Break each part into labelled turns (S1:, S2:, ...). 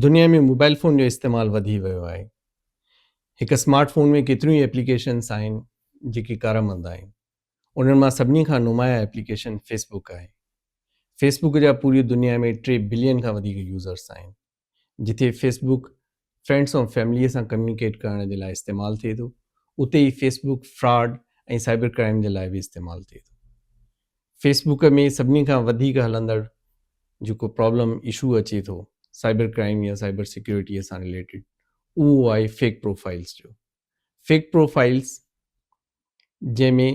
S1: دنيا ۾ mobile phone جو استعمال وڌي ويو آهي. هڪ اسمارٽ فون ۾ ڪيتريون ئي ايپليڪيشنس آهن جيڪي ڪارآمد آهن. انهن مان سڀني کان نمايان ايپليڪيشن فيس بڪ آهي. فيس بڪ جا پوري دنيا ۾ ٽي بلين کان وڌيڪ يوزرس آهن. جتي فيس بڪ فرينڊس ۽ فيمليء سان ڪميونيڪيٽ ڪرڻ جي لاء استعمال ٿئي ٿو، اتي ئي Facebook fraud ۽ cyber crime جي لاء به استعمال ٿئي ٿو. فيس بوڪ ۾ سڀني کان وڌيڪ هلندڙ جيڪو پرابلم اشو اچي ٿو سائبر ڪرائم يا سائبر سيڪيورٽي سان رليٽيڊ اهو آهي فيڪ پروفائلز جو فيڪ پروفائلز جنهن ۾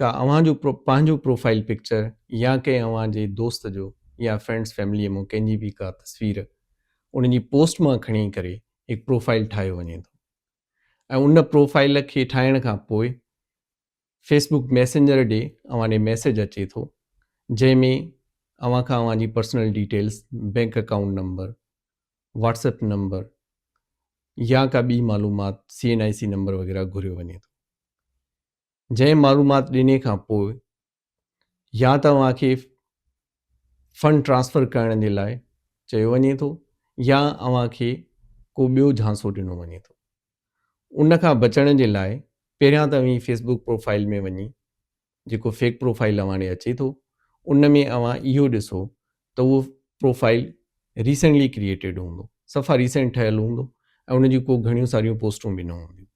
S1: ڪا اوهان جو پنهنجو پروفائل پڪچر يا ڪنهن اوهان جي دوست جو يا فرينڊس فيملي ۾ ڪنهن جي به ڪا تصوير ان جي پوسٽ مان کڻي ڪري هڪ پروفائل ٺاهيو وڃي ٿو ۽ ان پروفائل کي ٺاهڻ کان پوء فيس بوڪ ميسنجر ڏي اوهان ڏي ميسيج اچي ٿو جنهن ۾ اوهان کان اوهان جي personal details bank account number WhatsApp number يا ڪا ٻي معلومات C N I C number وغيره گهريو وڃي ٿو جنهن معلومات ڏني کان پوء يا ته اوهان کي فنڊ ٽرانسفر ڪرڻ جي لاء چيو وڃي ٿو يا اوهان کي ڪو ٻيو جھانسو ڏنو وڃي ٿو ان کان بچڻ جي لاء پهريان ته اوهين فيس بوڪ پروفائل ۾ وڃي جيڪو فيڪ پروفائل اوهان ڏي اچي ٿو ان ۾ اوهان اهو ڏسو ته اهو پروفائل ريسنٽلي ڪريئيٽيڊ هوندو صفا ريسنٽ ٺهيل هوندو ۽ ان جون ڪو گھڻيون ساريون پوسٽون به نه هونديون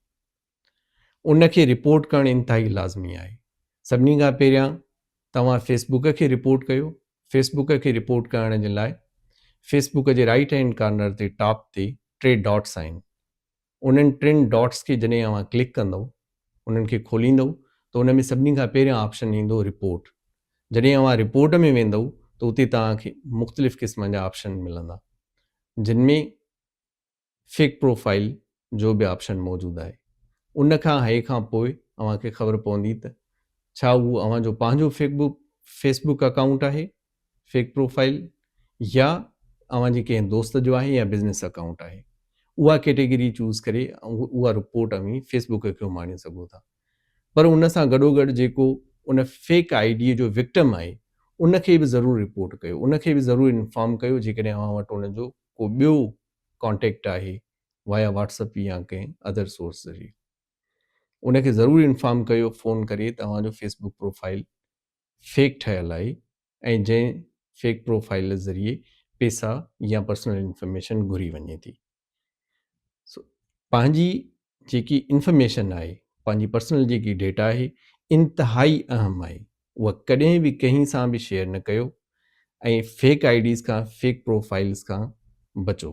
S1: ان کي رپورٽ ڪرڻ انتهائي لازمي آهي سڀني کان پهريان توهان فيس بڪ کي رپورٽ ڪيو فيس بڪ کي رپورٽ ڪرڻ جي لاء فيس بڪ جي رائٽ هينڊ ڪارنر تي ٽاپ تي ٽي ڊاٽس آهن انهن ٽن ڊاٽس کي جڏهن اوهان ڪلڪ ڪندو انهن کي کوليندو ته ان ۾ سڀني کان پهريان آپشن ايندو رپورٽ جڏهن اوهان رپورٽ ۾ ويندو ته اتي توهان کي مختلف قسمن جا آپشن ملندا جن ۾ فيڪ پروفائيل جو به آپشن موجود آهي ان کان هيء کان پوء اوهان کي خبر پوندي ته ڇا اهو اوهان جو پنهنجو fake book Facebook account آهي فيڪ پروفائيل يا اوهان جي ڪنهن دوست جو آهي يا بزنس اڪائونٽ آهي اها ڪيٽيگري چوز ڪري اها رپورٽ اوهين فيس بوڪ کي اماڻي سگهو ٿا پر ان سان گڏو گڏ جيڪو ان فيڪ آئي ڊي جو وڪٽم آهي ان کي به ضرور رپورٽ ڪيو ان کي به ضرور انفارم ڪيو جيڪڏهن اوهان وٽ ان جو ڪو ٻيو ڪانٽيڪٽ آهي وايا واٽس اپ يا ڪنهن ادر سورس ذريعي ان کي ضرور انفارم ڪيو فون ڪري توهان جو فيس بوڪ پروفائل فيڪ ٺهيل آهي ۽ جنهن فيڪ پروفائل ذريعي پيسا يا پرسنل انفارميشن گهري وڃي ٿي سو پنهنجي جيڪي انفارميشن آهي پنهنجي پرسنل جيڪي ڊيٽا آهي انتهائي اهم آهي اها ڪڏهن به ڪنهن سان به شيئر نه ڪيو ۽ فيڪ آئي ڊيز کان فيڪ پروفائلز کان بچو.